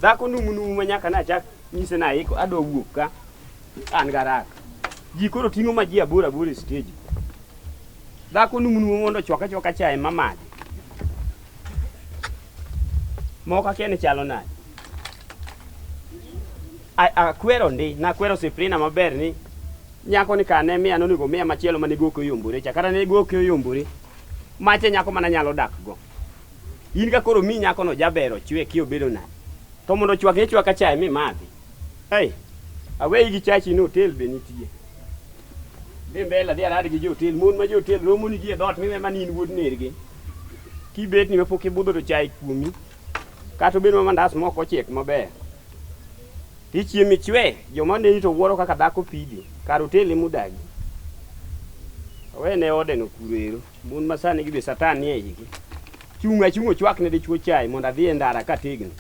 dhako numunumu ma nyaka nachak nyise naiko adwa wuok ka an garak ji koro ting'o ma ji aboro aboro e steji dhako numunumu mondo chwaka chwaka chae mamadhi moko akia ni chalo nade Akwero ndi, nakwero Siprina maber ni nyako ni ka ne miya nonego miya machielo mane goke oyombore cha kata ne goke oyombore mache nyako mana nyalo dak go in ka koro mi nyako no jaber ochwe ki obedo na to mondo chwak ne chwaka chae mi madhi hey aweyi gi chachi no hotel be nitie dhi mbele dhi arad gi jotel mon ma jotel romo ni gi e dot miwe mani in wuod nergi kibet ni mapok ibudho to chae kuomi Kata obedo ma mandas mok ochiek maber, tichiemo ichwe, joma neni to wuoro kaka dhako pidi, kar oteli mudagi. Awene odeno kuro ero, mon ma sani gi be satan nie igi. Chung' achung' ochwak ne dichwo chai mondo adhi e ndara kategno.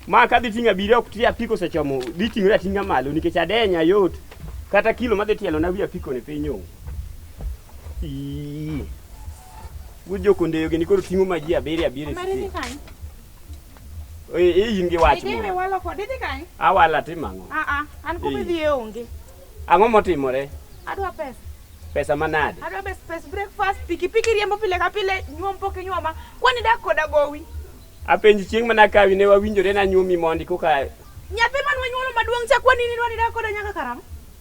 Ma kadhi ting'o abiri ok ti apiko osechomo, dhi ting'ore ating'a malo nikech adenya yot. Kata kilo madhi tielo na wi apiko ni piny onge. Ii. Wuod jokondeyo gini koro ting'o ma ji abiriyo abiriyo e Mari dhi site. kanye? Ee, ee, in gi wach Idhi moro. walo kode idhi kanye? Awala timo ang'o? Ah ah, an kuma Ee. idhiye onge. Ang'o motimore? Adwa pesa. Pesa manade? Adwa best pes breakfast, pikipiki riembo pile ka pile, nyuom pok inyuoma. Kwani dak koda gowi. Apenji chieng' mana kawi ne wawinjore nanyuomi mondi koka Nyathi man wanyuolo maduong' cha kwani ni dwani dak koda nyaka karang'o?